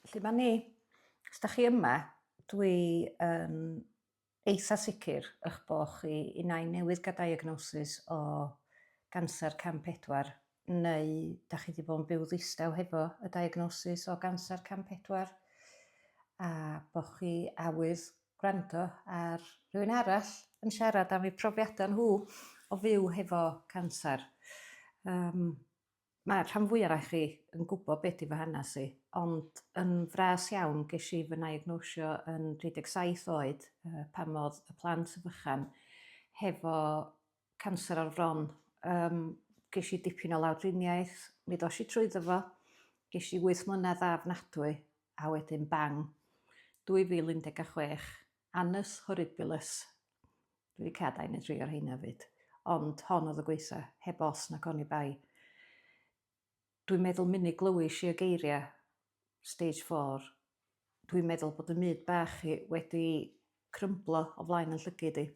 Felly mae ni. Os da chi yma, dwi yn um, eitha sicr eich bod chi i nain newydd gael diagnosis o ganser cam 4 neu da chi wedi bod yn byw ddistaw hefo y diagnosis o ganser cam 4 a bod chi awydd gwrando ar rhywun arall yn siarad am eu profiadau nhw o fyw hefo canser. Um, Mae rhan fwya onoch chi yn gwybod be di fy hanes i, ond yn fras iawn ges i fy naegnosio yn 37 oed pan oedd y plant fychan hefo canser o'r fron. Um, ges i dipyn o lawdriniaeth, mi ddos i trwy ddyfo, ges i 8 mlynedd ddafnadwy a wedyn bang. 2016, annus horribilis. Dwi wedi cadael neu dri o'r rheina fyd. Ond hon oedd y gwaetha, heb os nac oni bai. Dwi'n meddwl munud glywis i y geiriau Stage Four, dwi'n meddwl bod y myd bach i wedi crymblo o flaen yn llygid i.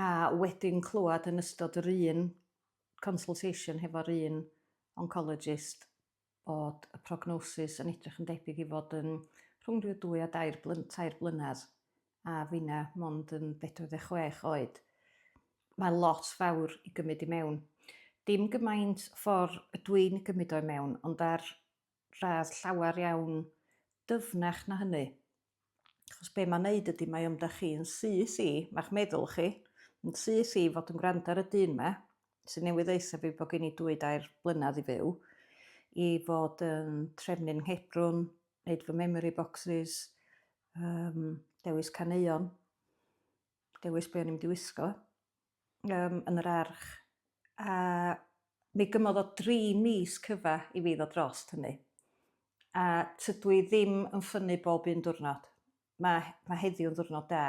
A wedyn clywed yn ystod yr un consultation hefo'r un oncologist bod y prognosis yn edrych yn debyg i fod yn rhwng ryw dwy a dair blyn, tair blynedd, a finna mond yn 46 oed. Mae lot fawr i gymryd i mewn. Dim gymaint ffordd y dwi'n gymryd o'i mewn, ond ar radd llawer iawn dyfnach na hynny. Achos be mae'n neud ydy mae o'm 'da chi yn syth i, ma'ch meddwl chi, yn syth i fod yn gwrando ar y dyn 'ma, sy'n newydd ddeutha fi bod gen i dwy dair blynedd i fyw, i fod yn trefnu'n nghebrwn, neud fy memory boxes, um, dewis caneuon, dewis be o'n i'n mynd i wisgo. yym yn yr arch a mi gymodd o dri mis cyfa i fi ddod drost hynny a tydw i ddim yn ffynnu bob un diwrnod. Ma' ma' heddiw'n ddiwrnod da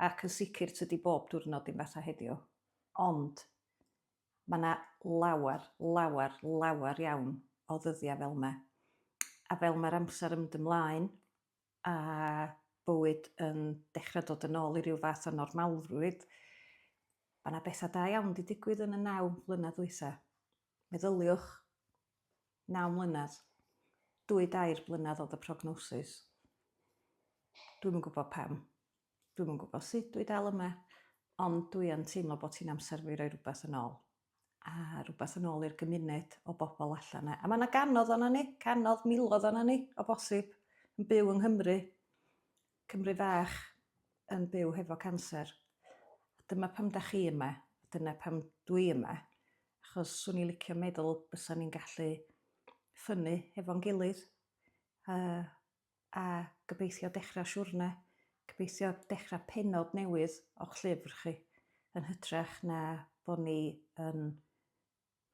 ac yn sicr tydi bob diwrnod ddim fatha heddiw ond ma' 'na lawer lawer lawer iawn o ddyddia' fel 'ma a fel ma'r amser yn mynd ymlaen a bywyd yn dechrau dod yn ôl i ryw fath o normalrwydd, mae yna bethau da iawn wedi digwydd yn y naw mlynedd ddwytha. Meddyliwch, naw mlynedd, dwy dair mlynedd oedd y prognosis. Dwi'n yn gwybod pam, dwi'n yn gwybod sut dwi dal yma, ond dwi yn teimlo bod hi'n amser fi roi rhywbeth yn ôl. a rhywbeth yn ôl i'r gymuned o bobl allan 'na. A mae yna ganodd o'na ni, canodd milodd o'na ni o bosib yn byw yng Nghymru, Cymru fach yn byw hefo canser. Dyma pam da chi yma, dyna pam dwi yma, achos swn i licio meddwl bysa ni'n gallu ffynnu hefo'n gilydd a a gobeithio dechrau siwrne, gobeithio dechrau pennod newydd o'ch llyfr chi, yn hytrach na bod ni yn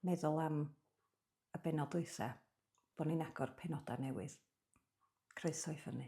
meddwl am y bennod dwytha, bod ni'n agor penodau newydd. Croeso i ffynnu.